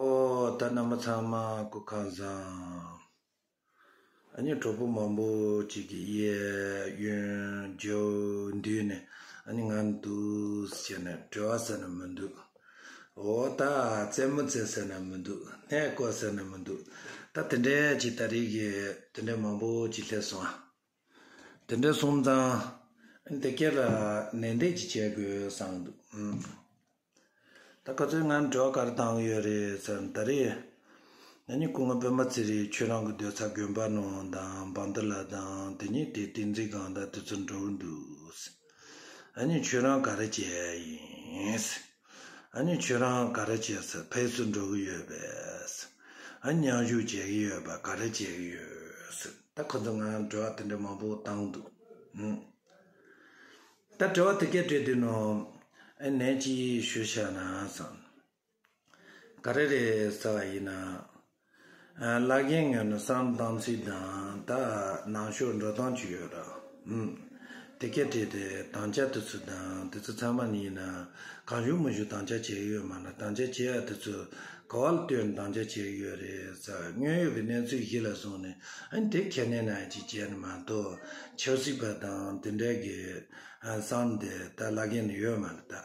ཨོ་ད་རྣམ་པ་ཚང་མ་སྐུ་ཁང་བཟང། ཨ་ནི་གྲོགས་པོ་མང་པོ་གཅིག་གི་གཡས་གཡོན་རྒྱབ་མདུན་ནས་ཨ་ནི་ང་འདུག་ཟེར་ནས་བྲོས་བ་ཟེར་ན་མི་འདུག་ཨོ་ད་རྩེད་མོ་རྩེ་ཟེར་ན་མི་འདུག་སྣེ་བསྐོར་ཟེར་ན་མི་འདུག་ད་དེ་འདྲས་ཀྱི་ད་རིགས་དེ་འདྲས་མང་པོ་གཅིག་སླེབས་སོང། དེ་འདྲ་སོང་ཙང་དེ་ག་ལ་ནན་ཏན་གྱིས་བྱེད་དགོས་བསམ་འདུག་ད་ག་ཚོད་ང་འགྲོ་གར་བཏང་ཡོད་རེད་ཙང་ད་རེས་ང་གཉིས་སྐུ་ངོ་པད་མ་ཚེ་རིང་ཁྱོད་རང་གི་སྡོད་ཚ་དགོན་པ་ནང་དང་འབངས་དེ་ལ་དང་དེ་གཉིས་དེ་ཏིང་འཛིན་གང་དང་དེ་ཚོ་འགྲོ་གི་འདུག་ཨ་ནི་ཁྱོད་རང་ག་རེ་བྱས་ཡིན། ཨ་ནི་ཁྱོད་རང་ག་རེ་བྱས་ཚེ་ཕེབས་བསུ་འགྲོ་གི་ཡོད་པས། ཨ་ནི་མཉམ་ཞུགས་བྱེད་གི་ཡོད་པས་ག་རེ་བྱེད་གི་ཡོད། ད་ཁོ་ཚོ་ང་ལ་དྲི་བ་དེ་འདྲ་མང་པོ་བཏང་འདུག་ད་དྲི་བ་དེ་གས་དྲིས་དུས་ནོ། ཨ་ནས་ཅི་ཞུ་བྱས་ན། ག་རེ་རེད་ཟེར་བ་ཡིན་ན། བླ་རྒན་ངོས་ནས་བསམ་སྟངས་ཚིག་དང་དག་ནང་ཤོག་འགྲོ་སྟངས་ཅིག་ཡོད་ར་ཨུ། དེ་སྐད་བྲིས་ཏེ་དང་བཅའ་དེ་ཚོ་དང་དེ་ཚོ་ཚང་མ་ནི་ཡིན་ན་གང་ཞུ་མི་ཞུ་དང་བཅའ་བྱས་ཡོད་མ་ལ་དང་བཅའ་བྱས་ཡ་དེ་ཚོ་ག་བ་ལ་ལྟོས་ནས་དང་བཅའ་བྱས་ཡོད་རེད་ས་དངོས་ཡོད་ཀྱི་གནས་ཚུལ་གཞི་ལ་བཟུང་ནས་ཨན་དེ་ཁས་ལེན་ཨ་ཅིག་བྱས་ནས་མ་གཏོགས་ཆབ་སྲིད་པ་དང་དེ་འདྲ་གི་བསམ་དེ་ད་བླ་རྒན་ནི་ཡོད་མ་རེད་ད།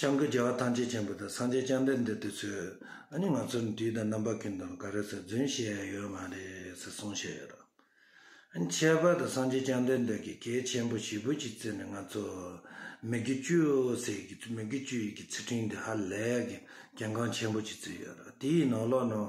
བྱང་གི་རྒྱལ་བ་ཐམས་ཅད་ཆེན་པོ་དང་སངས་རྒྱས་སྤྱན་འདྲེན་འདི་དུས་ཚོད་ནི་ང་ཚོར་དུས་དང་རྣམ་པ་ཀུན་དང་འགའ་རེས་རྫུན་བཤད་ཡ་ཡོད་མ་རེད་ཟེར་གསུངས་བཤད་ཡོད། ཁྱད་པར་དུ་སངས་རྒྱས་སྤྱན་འདྲེན་འདི་གིས་གལ་ཆེན་པོ་བཞི་པོ་ཞིག་བརྩད་ནས་ང་ཚོ་མི་རྒྱུ་བཅུ་ཟེར་གི་མི་རྒྱུ་བཅུ་ཡི་གི་ཚིག་ཕྲེང་འདི་ཧ་ལས་གི་གལ་འགངས་ཆེན་པོ་ཞིག་བརྩིས་ཡོད། དེའི་ནང་ལོགས་ནང།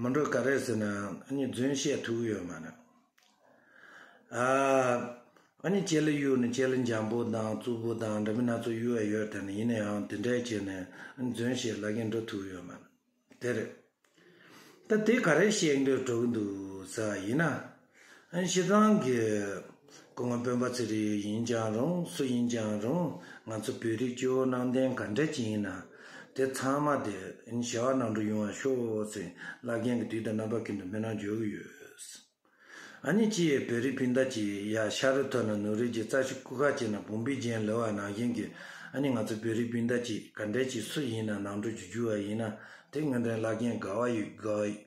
མི་འགྲོ་ག་རེ་ཟེར་ན་ཡང་རྫུན་བཤད་ཐུག་ཡོད་མ་རེད། ཨ་ནི་ཁྱེད་ལ་གཡུ་ནི་ཁྱེད་ལ་འཇམ་པོ་དང་རྩུབ་པོ་དང་འདྲ་མི་སྣ་ཚོ་གཡུ་བ་ཡོད་དེ་ནི་ཡིན་ན་ཡང་དེ་འདྲས་བྱས་ནས་རྫུན་བཤད་ལ་གིན་འགྲོ་ཐུག་ཡོད་མ་རེད། དེ་རེད། ད་དེ་ག་རེ་བཤད་འདོད་སྤྲོ་གི་འདུག་ཟེར་བ་ཡིན་ན། གཞི་གྲོང་གི་སྐུ་ངོ་དཔོན་པོ་ཚེ་རིང་ཡིན་ཀྱང་རུང་སུ་ཡིན་ཀྱང་རུང་ང་ཚོ་བོད་རིགས་སྐྱེ་བོ་ནང་བསྟན་ག་འདྲ་ཅིག་ཡིན་ན་དེ་ཚང་མ་དེ་ཞེ་བ་ནང་འགྲོ་ཡོང་བ་ཤོག་ཟེར་བླ་རྒན་གྱི་དུས་དང་རྣམ་པ་ཀུན་ཏུ་སྨོན་ལམ་འཇོག་གི་ཡོད། ཨ་ནི་ཅི་ཡོད་བོད་རིགས་སྤུན་ཟླ་ཅིག་ཡ་ཤ་རུ་ཐོན་ན་ནུ་རིགས་ཀྱི་རྩ་ཤི་སྐུ་ཁ་བྱེ་ན་བུམ་པའི་རྒྱན་ལེ་བ་ནང་བཞིན་གྱི་ཨ་ནི་ང་ཚོ་བོད་རིགས་སྤུན་ཟླ་ཅིག་ག་འདྲ་ཅིག་སུ་ཡིན་ན་ནང་འགྲོ་རྒྱུ་རྒྱུ་བ་ཡིན་ན་དེ་དངོས་དོན་བླ་རྒན་དགའ་བ་ཡོད་དགའ་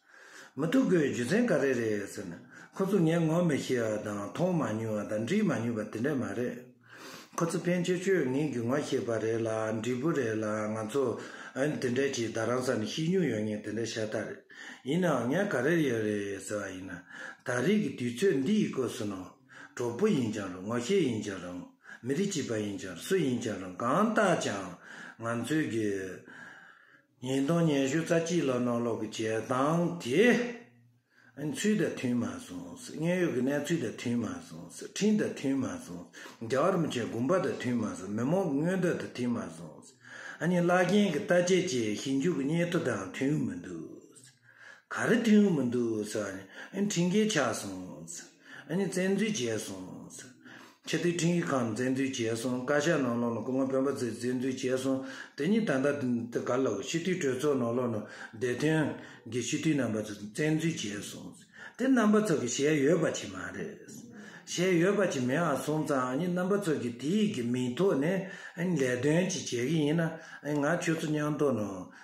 མི་ཐུག་གོ་རྒྱུ་མཚན་ག་རེ་རེད་ཟེར་ན། ཁོ་ཚོ་ངས་ངོ་མི་ཤེས་བ་དང་མཐོང་མ་མྱོང་བ་དང་འདྲིས་མ་མྱོང་བ་དེ་འདྲ་མ་རེད། ཁོ་ཚོ་ཕན་ཆད་ཆོས་ངན་གྱི་ངོ་ཤེས་པ་རེད་ལ་འདྲིས་པོ་རེད་ལ་ང་ཚོ་འདི་འདྲ་གྱིས་ད་རང་ས་ནས་ཤི་མྱོང་ཡོང་ངེས་དེ་འདྲ་ཤ་སྟག་རེད། ཡིན་ནའང་ངས་ག་རེ་ཡོད་རེད་ཟེར་བ་ཡིན་ན། ད་རེས་ཀྱི་དུས་ཚོད་འདིའི་སྐོར་སུན་ནོ། གྲོགས་པོ་ཡིན་ཀྱང་རུང་ངོ་ཤེས་ཡིན་ཀྱང་རུང་མི་རིགས་གཅིག་པ་ཡིན་ཀྱང་རུང་སུ་ཡིན་ཀྱང་རུང་གང་ལྟར་ཀྱང་ང་ཚོའི་རྒྱུ། ཉིན་དང་ཉན་ཞོར་རྩ་སྤྱི་ལ་ནང་ལོག་གི་བྱེད་སྟངས་དེ་ཚུལ་དང་མཐུན་མ་སོང་ཟེར། དངོས་ཡོད་ཀྱི་གནས་ཚུལ་དང་མཐུན་མ་སོང་ཟེར། འཕྲིན་དང་མཐུན་མ་སོང་ཟེར། རྒྱ་གར་མི་ཆེན་དགོན་པ་དང་མཐུན་མ་སོང་མི་མང་གི་མངོན་འདོད་དང་མཐུན་མ་སོང་ཟེར། གཉིས་བླ་རྒན་གྱི་ལྟ་དཔྱད་བཅས་ཞིབ་འཇུག་གི་སྙན་ཐོ་དང་མཐུན་མི་འདུག་ཟེར། ག་རེ་ཐོན་གི་མི་འདུག་ཟེར་བ་ནས་འཕྲིན་སྐད་ཆགས་སོང། བཙན་འཛུལ་བྱས་སོང། ཕྱི་དུས་འཕྲིན་ཡིག་ཁང་བཙན་འཛུལ་བྱས་སོང་བཀའ་ཤག་ནང་ལོགས་ནས་སྐུ་ངོ་དཔོན་པ་ཚོས་བཙན་འཛུལ་བྱས་སོང་དེ་གཉིས་ད་ལྟ་དེ་ག་ལ་ཕྱི་དུས་གྲོས་ཚོགས་ནང་ལོགས་ནས་བདེ་དོན་གྱི་སྤྱི་འཐུས་རྣམ་པ་ཚོས་བཙན་འཛུལ་བྱས་སོང་དེ་རྣམ་པ་ཚོ་གི་ཞལ་ཡོད་པ་ཅིག་མ་རེད། ཞལ་ཡོད་པ་ཅིག་མེད་ཨང་སོང་ཙང་རྣམ་པ་ཚོ་གི་དེའི་གི་མིང་ཐོག་ནས་ལས་དོན་ཅིག་བྱེད་གི་ཡིན་ན་ང་ཁྱོད་ཚོ་མཉམ་ཐོག་ནས་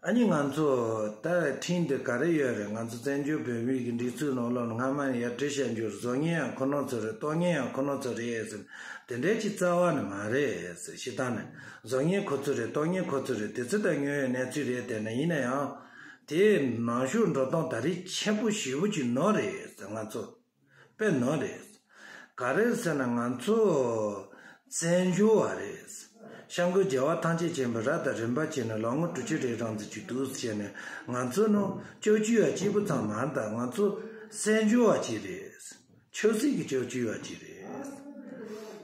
ཨ་མྱེས་ང་ཚོ་ད་ཁྲིན་དུ་ག་རེ་ཡོད་རེད་ང་ཚོ་བཙན་བྱོལ་བོད་མིའི་སྒྲིག་འཛུགས་ནང་སློབ་ན་སྔ་མ་ནས་ཡར་འདྲི་བྱ་འགྱུར་བཟོ་ཉེན་ཡང་ཁོ་ནོར་ཚོ་རེད་གཏོང་ཉེན་ཡང་ཁོ་ནོར་ཚོ་རེད་ཟེར་དེ་འདྲའི་ཅི་རྩ་བ་ནི་མ་རེད་ཟེར་ཞེ་སྡང་ནི་བཟོ་ཉེན་ཁོ་ཚོ་རེད་གཏོང་ཉེན་ཁོ་ཚོ་རེད་དེ་ཚོ་ད་ཉོན་ཡོད་གནས་ཚུལ་རེད་དེ་ནི་ཡིན་ན་ཡང་དེ་ནང་བཞུགས་འགྲོ་སྟངས་ད་རེས་མཆན་བུ་བཞི་བོ་གཅིག་ནོར་རེད་ཟེར་ང་ཚོ། པའི་ནོར་རེད། ག་རེད་ཟེར་ན་ང་ཚོ་བཙན་བྱོལ་བ་རེད། ཤང་ཀུའི་རྒྱལ་བ་ཐང་ཆེན་ཆེན་པོས་ར་དང་རིན་པ་བྱིན་ནས་ལོ་ངོ་དྲུག་ཅུ་རེའི་རང་བཙན་བྱུས་འདུག་བྱས་ནས་ང་ཚོ་ནོ་ཅོག་བྱུས་ཡ་གཅིག་པོ་ཙམ་མ་མཐའ་ང་ཚོ་བཙན་བྱོལ་བ་གཅིག་རེད། ཆོས་སྲིད་ཀྱི་ཅོག་བྱུས་ཡ་གཅིག་རེད།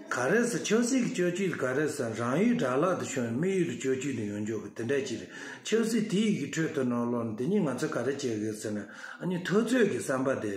ག་རེད་ཟེར་ཆོས་སྲིད་ཀྱི་ཅོག་བྱུས་ལ་ག་རེད་ཟེར་ན་རང་ཡུལ་དགྲ་ལག་ཏུ་ཤོར་ནས་དམིགས་ཡུལ་ལ་ཅོག་བྱུས་དེ་ཡོང་འཇོག་གི་དེ་འདྲ་གཅིག་རེད། ཆོས་སྲིད་དེ་ཡི་གི་ཁྲོད་དུ་ནོར་ལོག་ནོར་འདི་གཉིས་ང་ཚོས་ག་རེད་བྱེད་དགོས་ཟེར་ན་ཨ་ནི་ཐུབ་ཚོད་ཀྱི་བསམ་པ་དེ།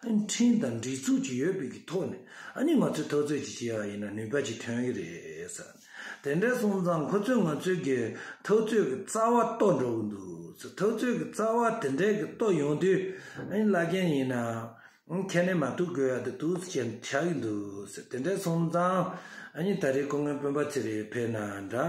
འཕྲིན་དང་སྒྲིག་འཛུགས་ཀྱི་ཡོད་པའི་ཐོག་ནས་ནི་ང་ཚོས་ཐག་གཅོད་ཅིག་བྱེད་ཡག་ཡིན་ན་ནུས་པ་ཅིག་ཐོན་གྱི་རེད། དེ་འདྲ་སོང་ཙང་ཁོ་ཚོས་ང་ཚོས་ཀྱི་ཐག་གཅོད་ཀྱི་རྩ་བ་རྟོགས་འགྲོ་གི་འདུག་ཐག་གཅོད་ཀྱི་རྩ་བ་དེ་འདྲ་གི་རྟོགས་ཡོང་དུས་ཨ་ནི་བླ་རྒན་ཡིན་ན་ཁྱེད་ནི་མ་གཏུགས་དགོས་ཡག་དུ་འདུག་ཟེར་ཅན་ཆགས་ཀྱི་འདུག་དེ་འདྲ་སོང་ཙང་ཨ་ནི་ད་རེས་ཁོ་ངའི་སྤུན་པ་ཚེ་རིང་བྷེ་ན་འདྲ།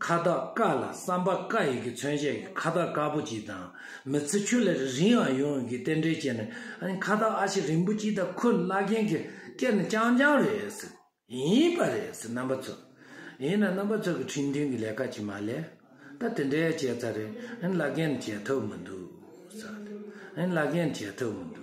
ཁ་བཏགས་དཀར་ལ་སམ་པ་དཀར་ཡི་གེ་མཚོན་བྱེད་ཀྱི་ཁ་བཏགས་དཀར་པོ་གཅིག་དང་མི་ཚེ་ཁྱོད་ལས་རིང་ཡང་ཡོང་ཡི་གེ་རྟེན་འབྲེལ་བྱས་ནས་ཁ་བཏགས་ཨ་ཕྱི་རིང་པོ་གཅིག་དང་ཁུ་བླ་རྒན་གྱི་སྐེ་ནས་རྐྱང་རྐྱང་རེད། ཡིན་པ་རེད་རྣམ་པ་ཚོ། ཡིན་ན་རྣམ་པ་ཚོ་གི་ཁྲིམས་མཐུན་གྱི་ལས་ཀ་ཅིག་མ་ལས། ད་དེ་འདྲའི་བྱས་ཚར་རེད་བླ་རྒན་ནི་བྱས་ཐུབ་མི་འདུག། བླ་རྒན་བྱས་ཐུབ་མི་འདུག།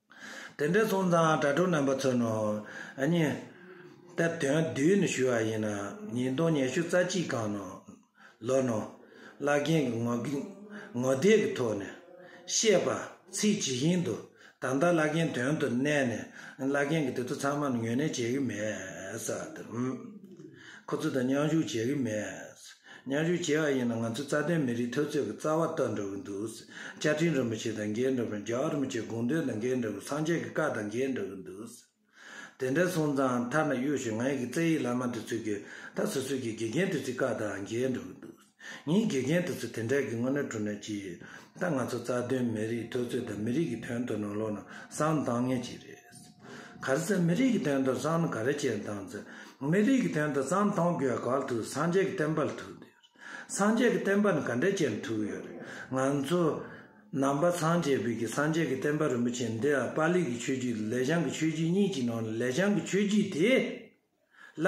དེ་འདྲའི་གསུང་ཙམ་དྲ་གྲོགས་རྣམ་པ་ཚོས་ནོ། གཉིས། དེར་དོན་བསྡུས་ནས་ཞུ་བ་ཡིན། ཉིས་སྟོང་ཉི་ཤུ་རྩ་གཅིག་གང་ནོ། ལོ་ནོ། བླ་རྒན་གྱི་ངོ། ངོ་དེབ་ཀྱི་ཐོག་ནས། བཤད་པ། ཚིག་ཇི་བཞིན་དུ། ད་ལྟ་བླ་རྒན་དོན་དུ་གནས་ནས། བླ་རྒན་གྱིས་དེ་ཚོ་ཚང་མ་ནི་ངོས་ལེན་བྱེད་ཀྱི་མེད། ཁོ་ཚོ་དང་མཉམ་ཞུགས་བྱེད་ཀྱི་མེད། སྙན་ཞུ་བྱེད་ཡག་ཡིན་ན་ང་ཚོའི་རྩ་དོན་མི་རིགས་ཐོས་ཚོད་ཀྱི་རྩ་བ་ལྟ་འདྲ་བོ་འདུག་བཅའ་ཁྲིམས་རིན་པོ་ཆེ་དང་འགལ་འདྲ་བོ་རྒྱ་གར་རིན་པོ་ཆེ་དགོངས་དོན་དང་འགལ་འདྲ་བོ་སངས་རྒྱས་ཀྱི་བཀའ་དང་འགལ་འདྲ་བོ་འདུག་དེ་འདྲ་སོང་ཙང་མཐའ་ན་གཡོ་ཞིང་ངའི་གི་བཙན་ཡིག་བླ་མ་དེ་ཚོས་གི་ད་སོ་སོའི་གི་དགེ་རྒན་དེ་ཚོའི་བཀའ་དང་འགལ་འདྲ་བོ་འདུག་ངའི་དགེ་རྒན་དེ་ཚོ་དེ་འདྲ་གི་དངོས་གནས་གྲུ་ནས་ཀྱི་ད་ང་ཚོ་རྩ་དོན་མི་རིགས་ཐོས་ཚོད་དང་མི་རིགས་ཀྱི་དོན་དུ་ནང་ལོག་ན་བསམ་བཏང་ངེས་ཀྱི་རེད། ག་རེ་ཚེ་མི་རིགས་ཀྱི་དོན་དུ་བསམ་ན་ག་རེ་བྱེད་དང་ཚེ་མི་རིགས་ཀྱི་དོན་དུ་བསམ་མཐོང་དགོས་ཡོད་ག་ལ་ཐུག་སངས་རྒྱས་ཀྱི་བསྟན་པ་ལ་ཐུག་འདོད་རེད་སངས་རྒྱས་ཀྱི་བསྟན་པ་ནི་ག་འདྲའི་ཆེ་ན་ཐུག་ཡོད་རེད་ང་ཚོ་ནང་པ་ཚང་བྱེས་བོད་ཀྱི་སངས་རྒྱས་ཀྱི་བསྟན་པ་རིན་པོ་ཆེ་འདི་ཨ་པཱ་ལི་ཀྱི་ཆོས་བརྒྱུད་དང་ལས་བྱང་གི་ཆོས་བརྒྱུད་གཉིས་ཀྱི་ནང་ནས་ལས་བྱང་གི་ཆོས་བརྒྱུད་དེ་ལ་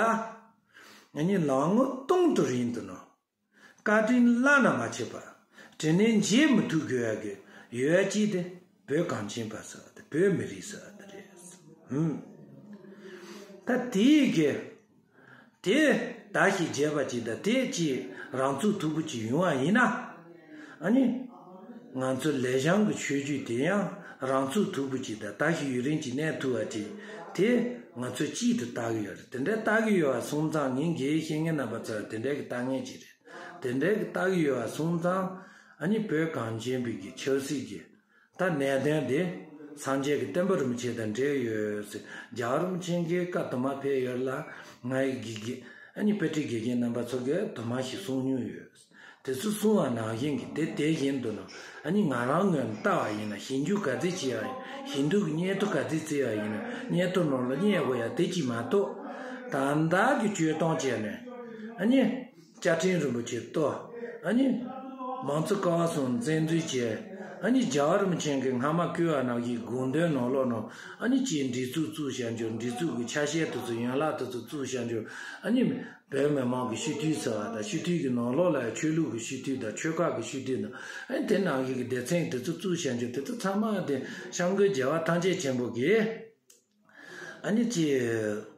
ངེད་གཉིས་ལག་ངོ་གཏོང་དུ་རིན་དུ་ནོར། བཀའ་དྲིན་བླ་ན་མ་ཆད་པར་དྲིན་ལན་འཇལ་མི་ཐུབ་དགོས་ཡ་གི་ཡོད་ཅེས་དེ་བོད་གངས་ཅན་པ་སོ་དེ་བོད་མི་རིགས་སོ་དེ་རེད་ཧུམ། ད་དེས་གི་དེ་ད་ཞིག་བྱས་པ་ཅིག་ད་དེ་ཅིག་རང་ཚུགས་ཐུབ་པོ་ཅིག་ཡོང་བ་ཡིན་ན། ཨ་ནི། ང་ཚོ་ལས་བྱང་གི་ཆོས་བརྒྱུད་དེ་ཡང་རང་ཚུགས་ཐུབ་པོ་ཅིག་དང་ད་ཞིག་ཡུག་རེན་གྱི་གནས་ཐུབ་བ་ཅིག་དེ་ང་ཚོས་གཅིག་ཏུ་བལྟ་གི་ཡོད་རེད་དེ་འདྲའི་བལྟ་གི་ཡོད་བ་སོང་ཙང་ངེད་འགའི་ཤེས་ངན་རྣམ་པ་ཚོ་ལ་དེ་འདྲའི་གི་བལྟ་ངེས་ཅིག་རེད་དེ་འདྲའི་གི་བལྟ་གི་ཡོད་བ་སོང་ཙང་ཨ་ནི་བོད་གངས་ཅན་བོད་ཀྱི་ཆབ་སྲིད་ཀྱི་ད་གནད་དོན་དེ་སངས་རྒྱས་ཀྱི་བསྟན་པ་རུམ་ཆེན་དང་འབྲེལ་ཡོད་ཟེར་རྒྱ་རུམ་ཆེན་གྱི་སྐབས་དུ་མ་ཕེབས་ཡོད་ལ་ང་ཡི་དགེ་རྒན་ཨ་ནི་དཔེ་ཁྲིད་དགེ་རྒན་རྣམ་པ་ཚོ་གས་དུ་མ་ཞིག་གསུང་མྱོང་ཡོད། དེ་ཚོས་གསུང་བ་ནང་བཞིན་གྱི་དེ་དེ་བཞིན་དུ་ནང་ཨ་ནི་ང་རང་ངོས་ནས་ལྟ་བ་ཡིན་ན་ཞིབ་འཇུག་ག་ཚད་བྱས་ཡག་ཡིན་ཞིབ་འདུག་གི་སྙན་ཐོ་ག་ཚད་བརྩི་ཡག་ཡིན་ན་སྙན་ཐོ་ནང་ལ་བསྙད་དགོས་ཡག་དེ་གཅིག་མ་གཏོགས་དང་བདག་གི་བཅོས་སྟོང་བྱས་ནས་ཨ་ནི། བཅའ་ཁྲིམས་རིན་པོ་ཆེ་གཏོར་ཨ་ནི། མང་གཙོ་ཀ་བ་སྲུང་བཙན་འཛུལ་བྱེད་ཨ་ནི། རྒྱ་གར་རིན་ཆེན་གྱི་སྔ་མ་བསྐུལ་བ་ནག་གི་དགོངས་དོན་ནོར་ལོག་ནོར་ཨ་ནི། ཅེས་འདྲི་གཙུག་གཙུག་བྱ་འཇུག་འདྲི་གཙུག་གི་ཆ་ཤས་དུ་ཚུགས་ཡན་ལག་དུ་ཚུགས་གཙུག་བྱ་འཇུག་ཨ་ནི། བོད་མི་མང་གི་ཤི་དུས་ཟེར་བ་དང་ཤི་དུས་ཀྱི་ནོར་ལོག་ལ་ཡང་ཆོས་ལུགས་ཀྱི་ཤི་དུས་དང་ཆོལ་ཁ་གི་ཤི་དུས་ནོར་ཨ་ནི། དེ་ནང་བཞིན་གྱི་སྡེ་ཚན་གྱི་དུ་ཚུགས་གཙུག་བྱ་འཇུག་དེ་ཚོ་ཚང་མ་དེ་བཤམས་མགོན་རྒྱལ་བ་ཐམས་ཅད་ཆེན་པོ་གིས་ཨ་ནི། ཅེས།